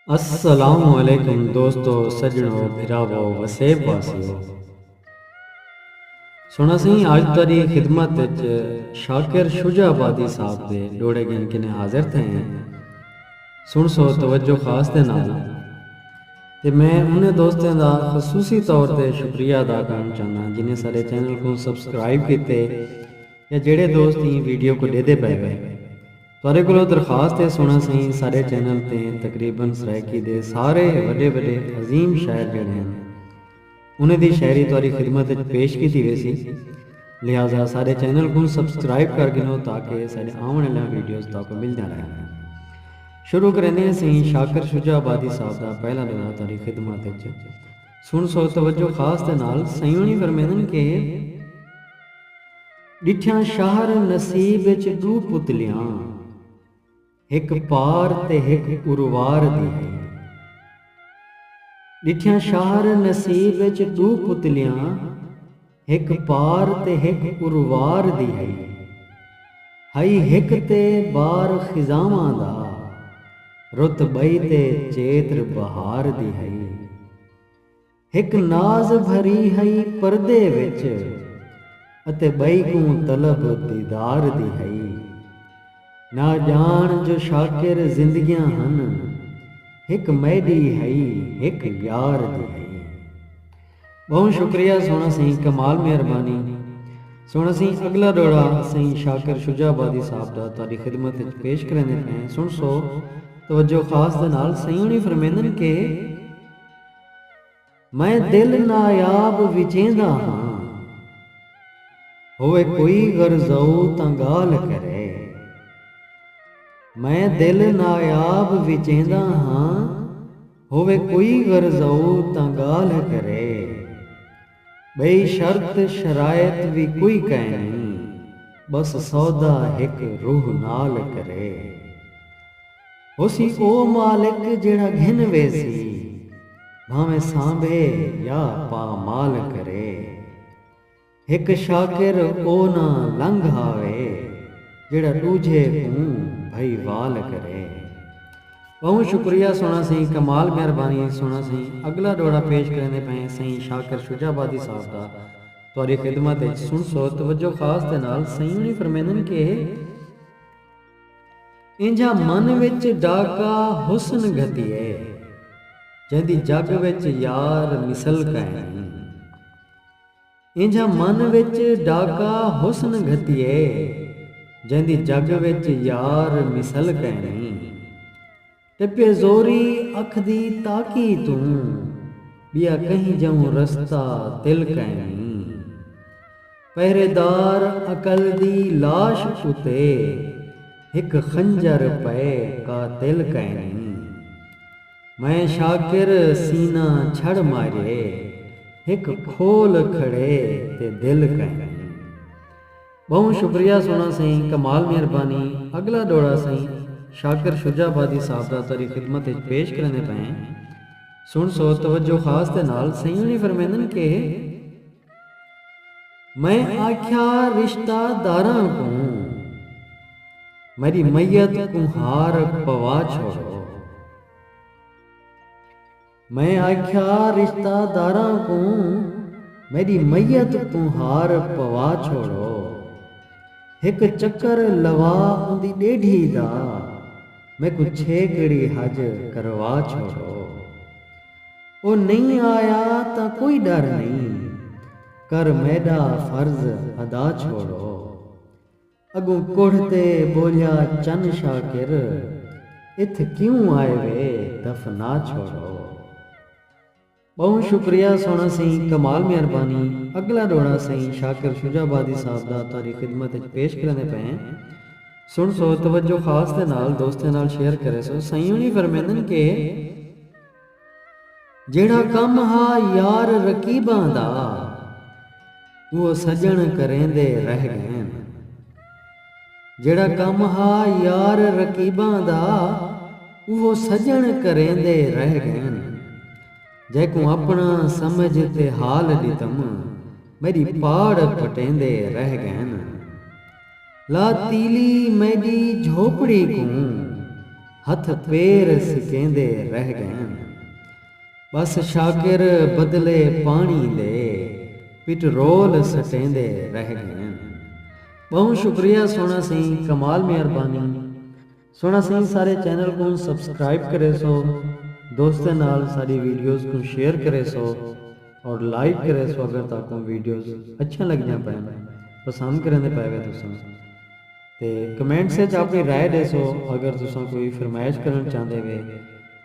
السلام علیکم دوستو سجنو بھراوو وسیب واسیو سنڑا سئیں آج تہاڈی خدمت وچ شاکر شجاع آبادی صاحب دے ڈوہڑے گھن کنیں حاضر تھئے ہیں سنڑسو توجہ خاص دے نال تے میں انہیں دوستیں دا خصوصی طور تے شکریہ ادا کرنا چاہنا جنہیں سارے چینل کو سبسکرائب کیتے یا جڑے دوست ہی ویڈیو کو ڈیدے پے وے تہاڈے کولوں درخواست ہے سنڑاں سئیں ساڈے چینل تے تقریبا سرائیکی دے سارے وڈے وڈے عظیم شاعر جیڑھے ہن انہاں دی شاعری تہاڈی خدمت اچ پیش کیتی ویسی لہذا ساڈے چینل کوں سبسکرائب کر گھنو تاکہ ساڈے آونڑ آلیاں ویڈیوز تہاکوں ملدیاں رہن۔ شروع کریندے ہاں سئیں شاکر شجاع آبادی صاحب دا پہلا دورہ تہاڈی خدمت اچ سنڑسو توجہ خاص دے نال سئیں ہنڑی فرمیندن کہ۔ ݙٹھیاں شہر نصیب اچ ݙو پتلیاں ہک پار تے ہک اروار دی ہے ݙٹھیاں شہر نصیب اچ ݙو پتلیاں ہک پار تے ہک اروار دی ہے ہئی ہک تے بار خزانواں دا رت ٻئی تے چیتر بہار دی ہے۔ ہک ناز بھری ہئی پردے وچ اتے ٻئی کوں طلب دیدار دی ہئی۔ نہ ڄاݨ جو شاکر زندگیاں ہن ہک میݙی ہئی ہک یار دی ہئی۔ ٻہوں شکریہ سوہݨا سئیں کمال مہربانی سوہݨا سئیں اڳلا ݙوہڑا سئیں شاکر شجاع آبادی صاحب دا تہاݙی خدمت وچ پیش کریندے پئیں سݨسو توجہ خاص دے نال سئیں ہوݨی فرمیندن کہ۔ میں دل نایاب وچیندا ہاں۔ ہووے کوئی غرضاؤ تاں ڳالھ کرے۔ میں دل نایاب وچیندا ہاں۔ ہووے کوئی غرضاؤ تاں ڳالھ کرے۔ بئی شرط شرائط وی کوئی کائنی بس سودا ہک روح نال کرے ہوسی او مالک جیڑھا گھن ویسی بھانویں سانبھے یا پامال کرے ہک شاکر او نہ لنگھ آوے جیڑھا ڈوجھے کوں بھئی وال کرے۔ ٻہوں شکریہ سوہݨا سئیں کمال مہربانی سوہݨا سئیں اڳلا ݙوہڑا پیش کریندے پئیں سئیں شاکر شجاع آبادی صاحب دا تہاݙی خدمت اچ سݨسو توجہ خاص دے نال سئیں ہوݨی فرمیندن کہ اے اینجھا من وچ ݙاکا حسن گھتی اے جیندی جڳ وچ یار مثل کائنی۔ اینجھا من وچ ڈاکا حسن گھتیے۔ جیندی جگ وچ یار مثل کینی۔ ٹپیے زوری اکھ دی تاکی توں۔ بیا کہیں جئوں رستہ تل کینی۔ پہرے دار عقل دی لاش اتے۔ ہک خنجر پئے قاتل کینی۔ میں شاکر سینہ چھڑ مارے ہک کھول کھڑے تے دل کائنی۔ بہوں شکریہ سونا سئیں کمال مہربانی اگلا ڈوڑا سئیں شاکر شجاع آبادی صاحب دا تہاڈی خدمت اچ پیش کریندے پئے ہیں سنڑسو توجہ خاص دے نال سئیں ہنی فرمیندن کہ۔ میں آکھیا رشتہ داراں کوں میڈی میت کوں ہار پوا چھوڑو۔ میں آکھیا رشتہ داراں کوں میڈی میت کوں ہار پوا چھوڑو۔ ہک چکر لوا اوندی ڈیڈھی دا میکوں چھیکڑی حج کروا چھوڑو۔ او نئیں آیا تاں کوئی ڈر نئیں کر میڈا فرض ادا چھوڑو اگوں کوڑھ تے بولیا چن شاکر اتھ کیوں آئے وے دفنا چھوڑو۔ بہوں شکریہ سونا سئیں کمال مہربانی اگلا ڈوڑا سئیں شاکر شجاع آبادی صاحب دا تہاڈی خدمت اچ پیش کریندے پئے ہیں سنڑسو توجہ خاص دے نال دوستیں نال شیئر کریسو سئیں ہنی فرمیندن کہ۔ جیڑھا کم ہا یار رقیباں دا اوہ سڄݨ کریندے رہ ڳئن جیڑھا کم ہا یار رقیباں دا اوہ سڄݨ کریندے رہ ڳئن جیکوں اپݨا سمجھ تے حال ݙتم میݙی پاڑ پٹیندے رہ ڳئن۔ لا تیلی میݙی جھوپڑی کوں ہتھ پیر سکیندے رہ ڳئن ٻس شاکر بدلے پاݨی دے پٹرول سٹیندے رہ ڳئن ٻہوں شکریہ سوہݨا سئیں کمال مہربانی۔ سنڑاں سئیں سارے چینل کوں سبسکرائب کریسو دوستیں نال ساڈی ویڈیوز کوں شیئر کریسو اور لائک کریسو اگر تہاکوں ویڈیوز اچھیاں لگدیاں پئن پسند کریندے پئے وے تساں تے کمنٹس اچ اپنی رائے ڈیسو اگر تساں کوئی فرمائش کرنڑ چاہندے وے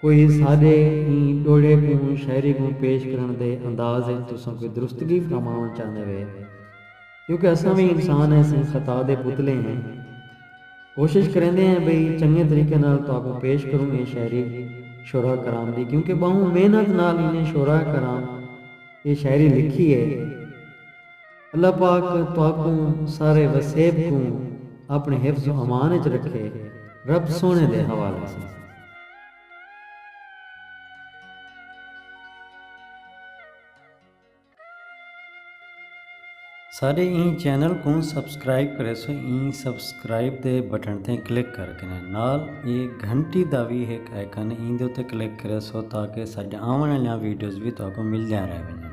کوئی ساڈے ایں ڈوہڑے کوں شاعری کوں پیش کرنڑ دے انداز اچ تساں کوئی درستگی فرماونڑ چاہندے وے۔ کیونکہ اساں وی انسان ہیسیں خطا دے پتلے ہیں۔ کوشش کریندے ہیں بھئی چنگے طریقے نال تہاکوں پیش کروں اے شاعری شعراء کرام دی کیونکہ ٻہوں محنت نال انہیں شعراء کرام اے شاعری لکھی ہے۔ اللہ پاک تہاکوں سارے وسیب کوں اپݨے حفظ و امان اچ رکھے۔ رب سوہݨے دے حوالے ساں۔ ساڈے ایں چینل کوں سبسکرائب کریسو ایں سبسکرائب دے بٹن تے کلک کر کنے نال اے گھنٹی دا وی ہک آئیکن ایں دے اتے کلک کریسو تاکہ ساڈیاں آون آلیاں ویڈیوز وی تہاکوں ملدیاں رہ ونجن۔